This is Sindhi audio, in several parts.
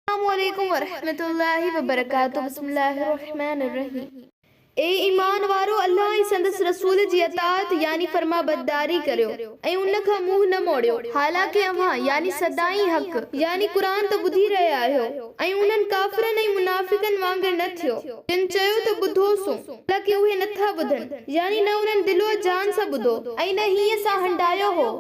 السلام عليڪم ورحمة الله وبرڪاته بسم الله الرحمٰن الرحيم اي ايمان وارؤ الله ۽ سندس رسول جي اطاعت يعني فرمانبرداري ڪريو ۽ ان کان منهن نه موڙيو حالانڪه اوهان يعني سدائين حق يعني قرآن ته ٻڌي رهيا آهيو ۽ انهن ڪافرن ۽ منافقن وانگر نه ٿيو جن چيو ته ٻڌو سون حالانڪه اهي نه ٿا ٻڌن يعني نه انهن دل و جان سان ٻڌو ۽ نه هينئن سان هنڊايو هو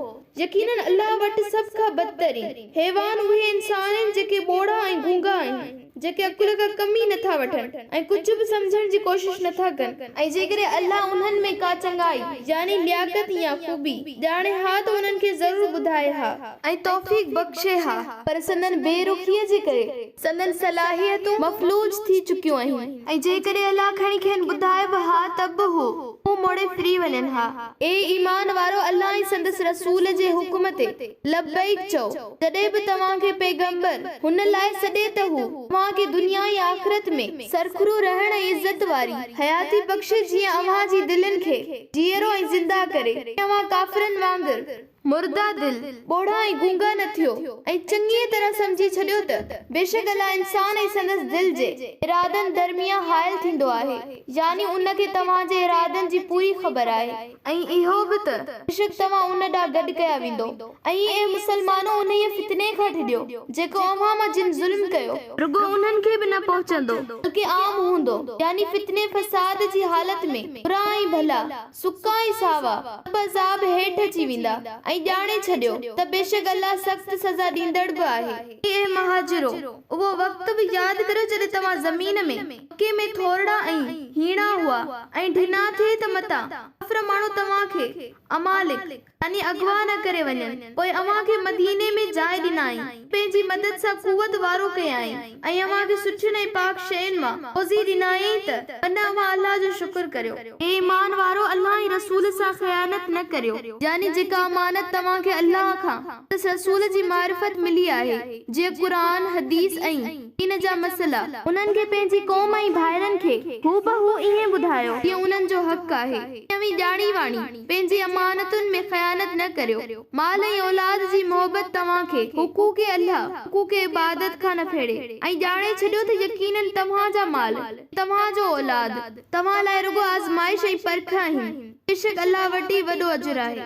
يقيناً الله وٽ سڀ کان بدترين، حيوان، اهي انسان آهن جيڪي ٻوڙا ۽ گونگا آهن، جيڪي عقل کان ڪم ئي نٿا وٺن ۽ ڪجهه به سمجهڻ جي ڪوشش نٿا ڪن. ۽ جيڪڏهن الله انهن ۾ ڪا چڱائي، يعني لياقت يا خوبي، ڄاڻي ها ته انهن کي ضرور ٻڌائي ها. ۽ توفيق بخشي ها. پر سندن بي رخيء جي ڪري. سندن صلاحيتون مفلوج ٿي چڪيون اهين ۽ جيڪڏهن الله کڻي کين ٻڌائي به ها ته به هو منهن موڙي ڦري وڃن ها. اي ايمان وارؤ الله ۽ سندس رسول جي حڪم تي لبيڪ چئو، جڏهن به توهان کي پيغمبر هن لاء سڏي ته هو اوهان کي دنيا ۽ آخرت ۾ سرخرو رهڻ ۽ عزت واري حياتي بخشي جيئن اوهان جي دلين کي جيئرو ۽ زنده ڪري ۽ اوهان ڪافرن وانگر مرده دل، ٻوڙا ۽ گونگا نه ٿيو ۽ چڱيء طرح سمجهي ڇڏيو ته بيشڪ الله انسان ۽ سندس دل جي ارادن درميان حائل ٿيندو آهي، يعني ان کي توهان جي ارادن جي پوري خبر آهي. ۽ اهو به ته بيشڪ توهان ان ڏانهن گڏ ڪيا ويندؤ. ۽ اي مسلمانؤ انهيء فتني کان ڊڄو، جيڪو اوهان مان جن ظلم ڪيو. رڳو انهن کي به نه پهچندو، بلڪه عام هوندو، يعني فتني فساد جي حالت ۾ برا ۽ ڀلا، سڪا ۽ ساوا سڀ عذاب هيٺ اچي ويندا ۽ ڄاڻي ڇڏيو ته بيشڪ الله سخت سزا ڏيندڙ به آهي. اي مهاجرو! اهو وقت به ياد ڪريو جڏهن توهان زمين ۾، مڪي ۾، ٿورڙا ۽ هيڻا هئا ۽ ڍنا ٿي ته متان، ڪافر ماڻهو توهان کي، امالڪ، يعني اغوا نه ڪري وڃن. پوء اوهان کي مديني ۾ جاء ڏنائين، پنهنجي مدد سان قوت وارو ڪيائين، ۽ اوهان کي سٺين ۽ پاڪ شين مان روزي ڏنائين ته ان اوهان الله جو شڪر ڪريو. اي ايمان وارؤ! الله ۽ رسول سان خيانت نه ڪريو. يعني جيڪا امانت توهان کي الله کان سندس رسول جي معرفت ملي آهي، جيئن قرآن، حديث ۽ دين جا مسئلا. انهن کي پنهنجي قوم ۽ ڀائرن کي هوبهو ائين ٻڌايو جيئن انهن جو حق آهي، ائين اوهين ڄاڻي واڻي. پنهنجي امانتن ۾ خيانت نه ڪريو. مال ۽ اولاد جي محبت توهان کي حقوق الله، حقوق عبادت، کان نه ڦيڙي ۽ ڄاڻي ڇڏيو ته يقيناً توهان جا مال ۽ توهان جو اولاد توهان لاء رڳو آزمائش ۽ پرک آهن، بيشڪ الله وٽ ئي وڏو اجر آهي.